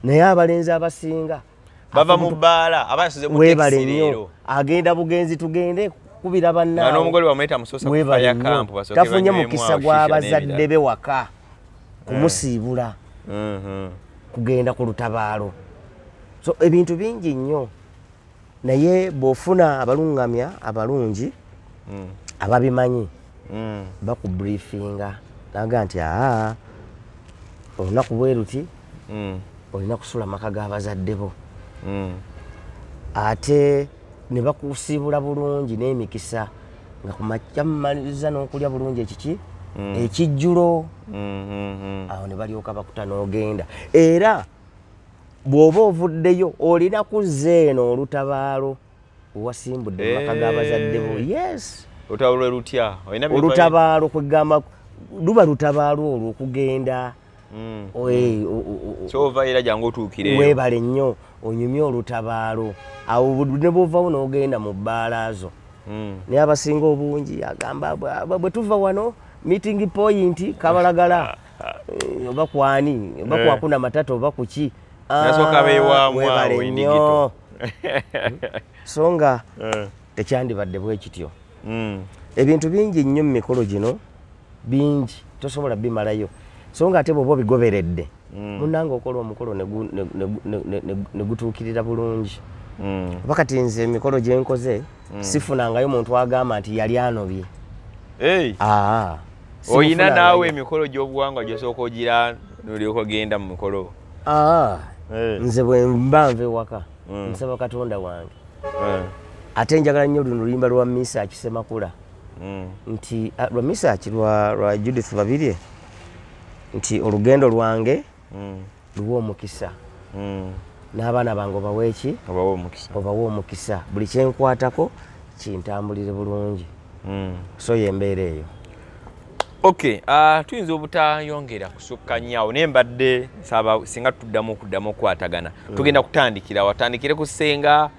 naye abalenzi abasinga bava mu bbaala abasize webale nnyo agenda bugenzi tugende kubira bannatafunye mukisa gw'abazadde be waka eh. kumusiibula mm-hmm. kugenda ku lutabaalo so ebintu bingi nnyo naye bwofuna abalungamya abalungi mm. ababimanyi mm. bakubriefinga naga nti aa olunaku bweruti mm. olina kusula maka gabazadde bo mm. ate nebakusiibula bulungi n'emikisa nga kumakya mumaliriza n'okulya bulungi ekiki mm. ekijjulo mm-hmm. awo ne balyoka bakuta n'ogenda era bw'oba ovuddeyo olina kuzza eno olutabaalo wewasimbudde mu maka g'abazadde bo eh. yes olutabaalo kwegamba luba lutabaalo olwo okugenda mm. weebale nnyo onyumye olutabaalo awo ne bwovawo n'ogenda mu bbaala zo mm. naye abasinga obungi agamba bwe tuva wano meeting point kabalagala uh, oba kwani oba eh. kwakuna matata oba kuki nasokabewamwebale ah, nnyo so nga eh. tekyandibadde bwe kityo hmm. ebintu bingi nnyo mu mikolo gino bingi tosobola bimalayo so nga ate bwoba obigoberedde hmm. munange okola omukolo negutuukirira bulungi hmm. oba kati nze emikolo gyenkoze mm. sifunangayo muntu agamba nti yali anobye hey. Ah, oyina naawe emikolo gyobuwangwa gyosooka ogira nolyoka genda mu mikolo ah, hey. nze bwemba nva ewaka mm. nsaba katonda wange mm. ate njagala nnyo luno luyimba lwa misa akisemakula mm. nti ah, lwa misa ki lwa judith babirye nti olugendo lwange mm. luba omukisa n'abaana bange obawa eki obawa omukisa buli kyenkwatako kintambulire bulungi hmm. so ye embeera eyo ok ah, tuyinza obutayongera kusukka nyaawo naye mbadde nsaba singa tuddamu okuddamu okukwatagana hmm. tugenda kutandikira watandikire ku senga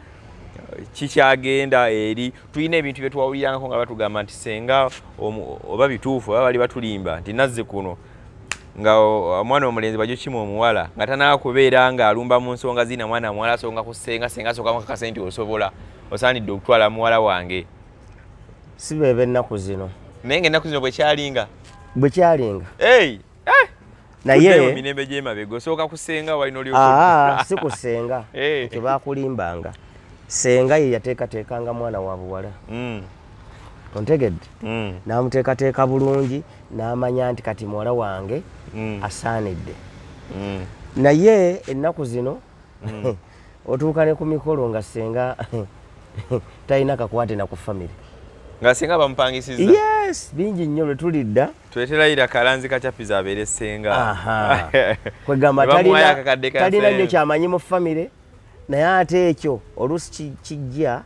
kikyagenda eri tulina ebintu byetwawulirangako nga batugamba nti senga oba bituufu oba bali batulimba nti nazze kuno nga omwana omulenzi bajukima omuwala nga tanaba kubeera nga alumba mu nsonga zina mwana muwala asonga ku senga senga asoka mukakasa nti osobola osaanidde okutwala muwala wange si bebe ennaku zino naye nga ennaku zino bwekyalinga bwekyalinga hey! eh! naye mirembe gyemabega osooka kusenga walina oli ah, si kusenga eh. nti bakulimbanga senga ye yateekateekanga mwana wa buwala mm. ontegedde mm. namuteekateeka bulungi n'amanya nti kati muwala wange mm. asaanidde mm. naye ennaku zino mm. otuuka ne ku mikolo nga ssenga talina kakwate na ku famire nga singa bamupangisiza yes bingi nnyo lwe tulidda tweterayira kalanzi kacapiza abeere senga kwegamba talina nnyo kyamanyi mu famire naye ate ekyo oluusi kijja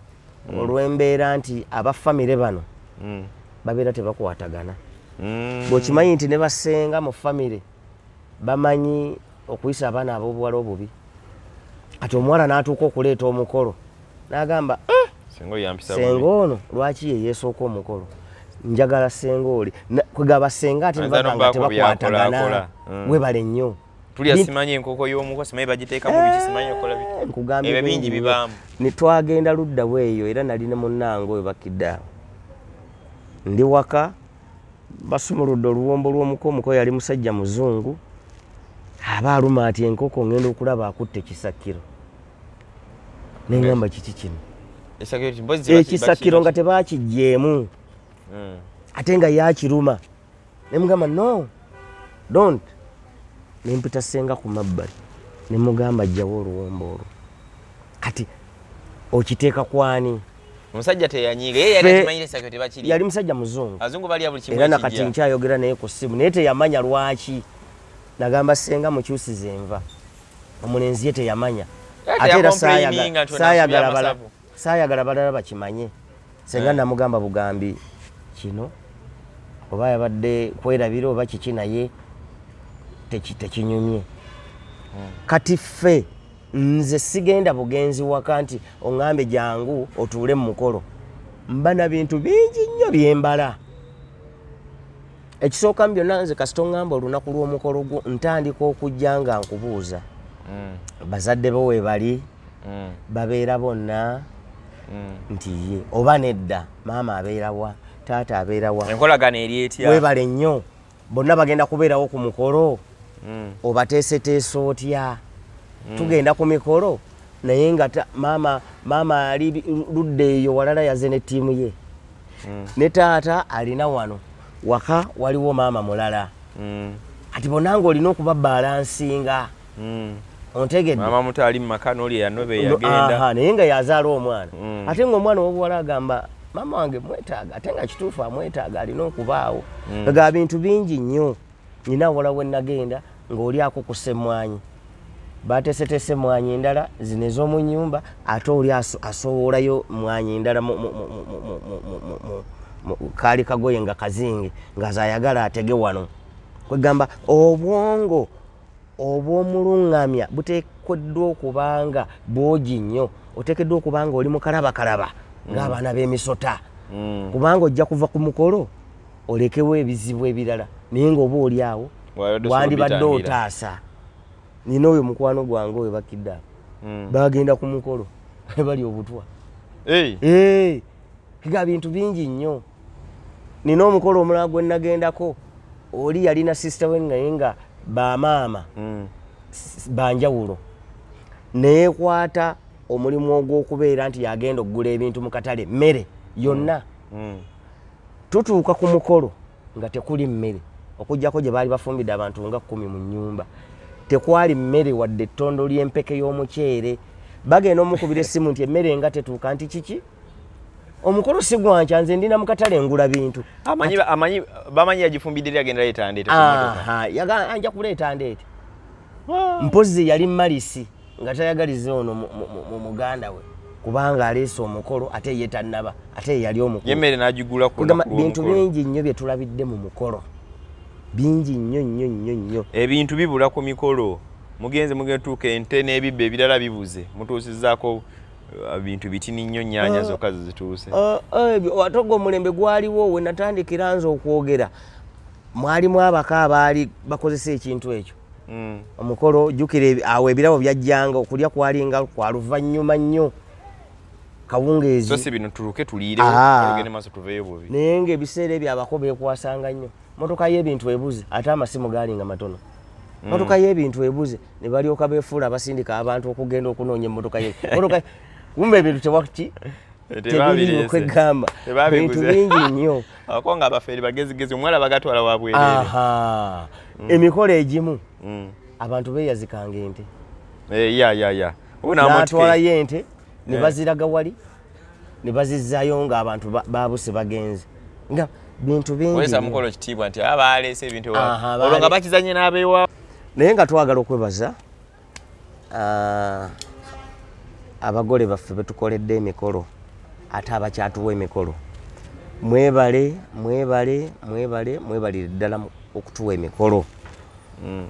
mm. olw'embeera nti aba famire bano mm. babeera tebakwatagana mm. bwekimanyi nti ne basenga mu famire bamanyi okuyisa abaana ab'obuwala obubi kati omuwala n'atuuka okuleeta omukolo n'agamba eh, senga ono lwaki ye yeesooka omukolo njagala senga oli kwegaba senga ate nebaganga tebakwatagana webale nnyo tulya simanyi enkoko y'omuko simanyi bagiteekamu biki eh, simanyi okola ebyo bingi bibaamu ne twagenda ludda weeyo era nali ne munnange oyo bakidda ndi waka basumuludde oluwombo lw'omuko omuko yali musajja muzungu aba aluma ati enkoko ngenda okulaba akutte ekisakkiro nengamba kiki kino ekisakkiro nga tebakijjeemu hmm. ate nga yakiruma ne mugamba no don't ne mpita senga ku mabbali ne mugamba jjawo oluwombo olwo kati okiteeka kwani omusajja teyanyiiga ye yali akimanyire sakyo tebakiri yali musajja muzungu azungu bali abuli kimu era nakati nkyayogera naye ku ssimu naye teyamanya lwaki nagamba senga mukyusize enva omulenzi ye teyamanya ate era saayagala saayagala bala Saayagala balala bakimanye. Ssenga namugamba bugambi kino oba yabadde kwerabira oba kiki naye tekinyumye. Kati ffe nze sigenda bugenzi waka nti oŋŋambe jangu otuule mu mukolo. Mba na bintu bingi nnyo bye mbala. Ekisooka mu byonna nze kasita oŋŋamba olunaku lw'omukolo gwo ntandika okujja nga nkubuuza hmm. bazadde bo we bali. mm. babeera bonna mm. nti ye oba nedda maama abeerawa taata abeerawa enkolagana eri etya webale nnyo bonna bagenda kubeerawo ku mukolo mm. obateeseteesa otya mm. tugenda ku mikolo naye nga maama maama ali ludde eyo walala yaze ne tiimu ye mm. ne taata alina wano waka waliwo maama mulala mm. kati bonanga olina okuba balansinga mm. ontegedde mama muto ali mu maka n'oli eyanoba eyagenda naye nga yazaala omwana mm. ate nga omwana wobuwala agamba mama wange mwetaaga ate nga kituufu amwetaaga alina okubaawo mm. aga bintu bingi nnyo nina awala we nagenda ng'olyako ku semwanyi batesetese mwanyi endala zino ez'omu nyumba ate oli asowolayo mwanyi endala kaali kagoye nga kazinge nga zayagala atege wano kwegamba obwongo obw'omulungamya buteekeddwa okuba nga bwogi nnyo oteekeddwa okuba nga oli mukalabakalaba mm. ng'abaana b'emisota mm. kubanga ojja kuva ku mukolo olekewo ebizibu ebirala naye ng'oba oli awo wandibadde otaasa nina oyo mukwano gwange oyo bakidda mm. bagenda ku mukolo bali obutwa kiga bintu bingi nnyo nina omukolo omulala gwe nagendako oli yalina sister we naye nga bamaama mm. banjawulo neekwata omulimu ogw'okubeera nti yagenda okugula ebintu mu katale mmere yonna mm. mm. tutuuka ku mukolo nga tekuli mmere okujjako gye baali bafumbidde abantu nga kkumi mu nnyumba tekwali mmere wadde ettondo ly'empeke y'omuceere bagenda omukubira essimu nti emmere nga tetuuka nti kiki omukulu sigwanca nze ndina mukatale ngula bintu amanyi amanyi bamanyi yajifumbidde eri agenda leeta ndeete aha yaga anja kuleeta ndeete ah. mpozi yali malisi nga tayagalize ono mu muganda we kubanga aleese omukolo ate ye tannaba ate yali omukulu yemmere n'agigula ku bintu bingi nnyo bye tulabidde mu mukolo bingi nnyo nnyo nnyo nnyo ebintu bibula ku mikolo mugenze mugentuuka ente n'ebibba ebirala bibuze mutuusizaako bintu bitini nnyo nnyanya ah, zokka zezituuse ah, ah, ate ogwo omulembe gwaliwo we natandikira nze okwogera mwalimu abako abaali bakozesa ekintu ekyo hmm. omukolo jukira awo ebirabo byajjanga okulya kwalinga kwa luvannyuma nnyo kawungeezi naye ngaebiseera ebyo abako bekwasanga nnyo motoka y'ebintu ebuze ate amasimu gaali nga matono mm. motoka y'ebintu ebuze ne balyoka befuula abasindika abantu okugenda okunoonya emmotoka ye motoka kumba ebintu tewaki tebiikwegamba bintu bingi nnyo ako nga abafeeri bagezigezi omuwala bagatwala wabwerere mm. emikolo egimu mm. abantu beyazikanga ente eh, yayaya natwalayo ente ne eh. baziraga wali ne bazizzaayo nga abantu babuse bagenze nga bintu bingiweza mukolo kitiibwa nti aba aleese ebintu olwo nga bakizanye n'abeewa naye nga twagala okwebaza abagole baffe betukoledde emikolo ate abakyatuwa emikolo mwebale mwebale mwebale mwebalire ddala okutuwa emikolo mm.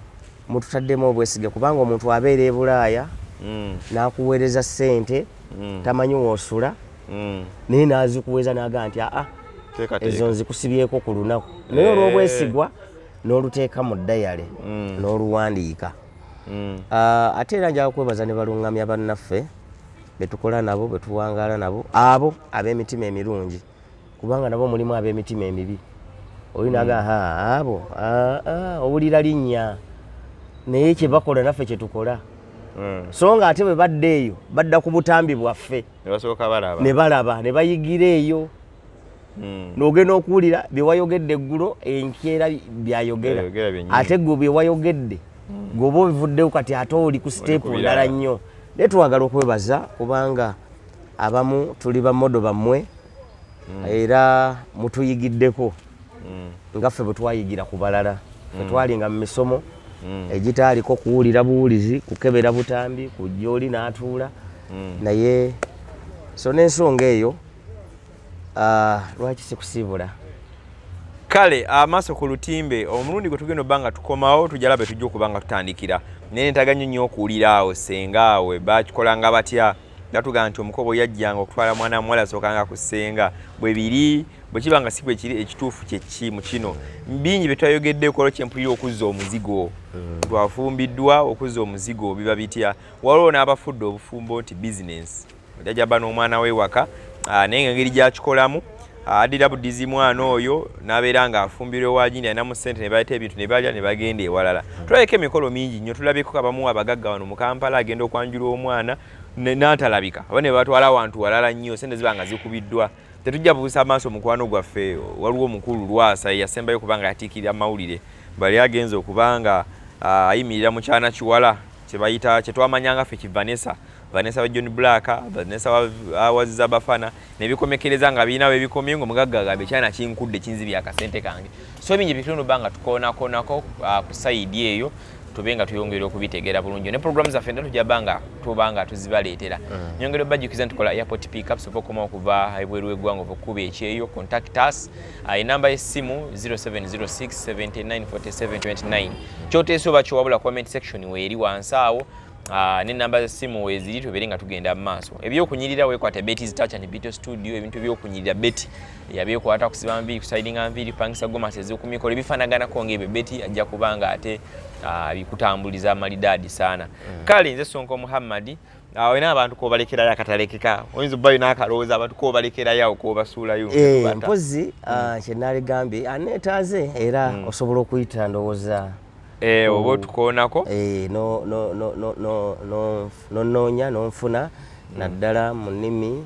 mututaddemu obwesige kubanga omuntu abeera ebulaaya mm. n'akuweereza ssente mm. tamanyi wosula mm. naye nazikuweza naga nti aa ezo nzikusibyeko ku lunaku naye eh. olwobwesigwa n'oluteeka mu dayale mm. n'oluwandiika mm. ah, ate era njaga kwebaza ne balungamya bannaffe betukola nabo betuwangaala nabo abo ab'emitima emirungi kubanga nabo mulimu ab'emitima emibi oli hmm. naga ha abo owulira linnya naye kye bakola naffe kye tukola hmm. so nga ate bwe badda eyo badda ku butambi bwaffe ne balaba ne bayigira eyo hmm. nogenda okuwulira bye wayogedde eggulo enkeera byayogera ate gwe bye wayogedde gweoba obivuddewo kati ate oli ku siteepu ndala nnyo naye twagala okwebaza kubanga Abamu tuli ba modo bammwe mm. era mutuyigiddeko mm. nga ffe bwe twayigira ku balala fe mm. twalinga mu misomo mm. egitaaliko kuwulira buwulizi kukebera butambi kujja oli n'atuula mm. naye so n'ensonga eyo uh, lwaki sikusiibula kale amaaso ku lutimbe omulundi gwe tugenda obba nga tukomawo tujala be tujja okuba nga tutandikira naye ntaganyo nnyo okuwulira awo senga awe bakikolanga batya nga tugamba nti omukobo yajjanga okutwala mwana muwala asookanga ku ssenga bwe biri bwe kiba nga si bwe kiri ekituufu kye ki mu kino bingi bye twayogeddeko olwo kye mpulira okuzza omuzigo hmm. twafumbiddwa okuzza omuzigo biba bitya waliwo n'abafudde obufumbo nti bizinensi ojajaba n'omwana we waka ah, naye nga engeri gyakikolamu adira budizi mwana oyo nabeera nga afumbirwa ewagindi alinamu sente nebaleta ebintu nebalya nebagenda ewalala hmm. tulabeko emikolo mingi nnyo tulabeko abamuwa abagagga wano mu kampala agenda okwanjula omwana natalabika aba nebatwala awantu walala nnyo sente ziba nga zikubiddwa tetujja buusa amaaso mukwano gwaffe waliwo omukulu lwasa eyasembayo kubanga yatiikirira mawulire bali agenza okubanga ayimirira mu kyana kiwala kyebayita kyetwamanyanga ffe kivanessa vanessa wa john black vanessa waziza bafana nebikomekereza nga birina webikomye nga omugagga agambye kyana kinkudde kinzibya akasente kange so bingi bitulina oba nga tukonakonako ah, ku sayidi eyo tube nga tuyongera okubitegeera bulungi ne programu zaffe nda tujaba nga tuba nga tuzibaleetera mm. nyongera obajjukiza nti tukola airport pickups oba okoma okuva ebweru w'eggwanga ova okukuba ekyeyo contact us ah, enamba y'essimu 0706 794729 kyoteesa oba kyowabula comment section weeri wansi awo Ah, nenamba zesimu weziri tubeere nga tugenda mu maaso ebyokunyirira wekwata beti zitacha ni bito studio ebintu byokunyirira beti yabyekwata kusiba nviiri kusaidinga nviiri pangisa gomasi ezokumikola ebifanaganako ngaebyo beti ajja kuba nga ate ah, bikutambuliza amalidadi saana mm. kale nze sonko muhammadi ah, olina abantu kobalekerayo akatalekeka oyinza obbayo nakalowooza abantu kobalekerayo kobasuulayo eh, mpozi mm. kyenaligambye anetaaze era mm. osobola okuyita ndowooza Eh, oba otukoonako eh, nonoonya nonfuna hmm. naddala mu nnimi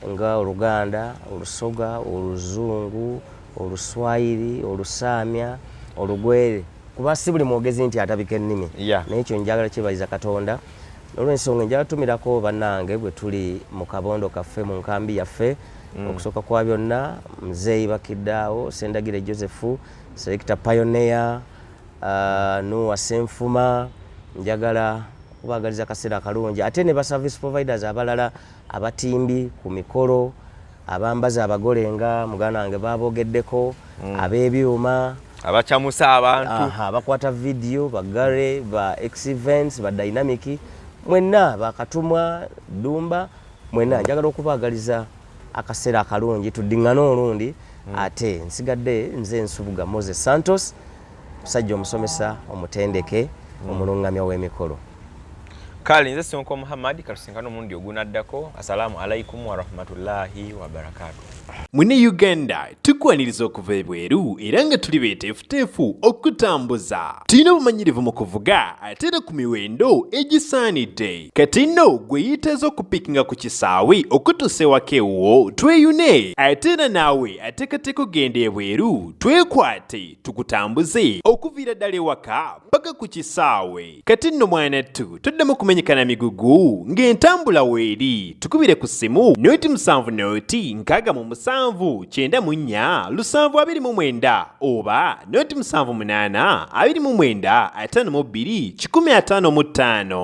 nga oluganda olusoga oluzungu oluswayiri olusaamya olugwere kuba si buli mwogezi nti atabika ennimi naye ekyo njagala kyebaliza katonda nolwensonga njala tumirako banange bwe tuli mu kabondo kaffe mu nkambi yaffe hmm. okusooka kwa byonna muzeeyi bakiddeawo sendagire joseph Selector Pioneer, uh, Nuwa Senfuma, njagala kubagaliza kaseera akalungi ate ne ba service providers abalala abatimbi ku mikolo abambaza abagole nga muganda wange babogeddeko mm. ab'ebyuma abacamusa abantu abakwata vidiyo bagare ba exevents ba dynamic mwenna bakatumwa ddumba mwenna njagala okubagaliza akaseera akalungi tuddiŋŋane olundi hmm. ate nsigadde nze nsubuga moses santos musajja omusomesa omutendeke hmm. omulungamya w'emikolo kale nze sonko muhammad katusinkana omulundi ogunaddako assalamu alaikum warahmatullahi wabarakatu mune uganda tukwaniriza okuva ebweru era nga tuli beteefuteefu okutambuza tulina obumanyirivu mu kuvuga ate era ku miwendo egisaanidde kati nno gwe yiteeza okupikinga ku kisaawe okutuusa ewaka ewuwo tweyune ate era naawe ateekateeka okugenda ebweru twekwate tukutambuze okuviira ddala ewaka paka ku kisaawe kati nno mwana ttu toddamu kumenyeka na migugu ng'entambula weeri tukubire ku ssimu nooti musanvu nooti nkaaga mu musanvu kyenda mu nnya lusanvu abiri mu mwenda oba nooti musanvu munaana abiri mu mwenda ataano mu bbiri kikumi ataano mu ttaano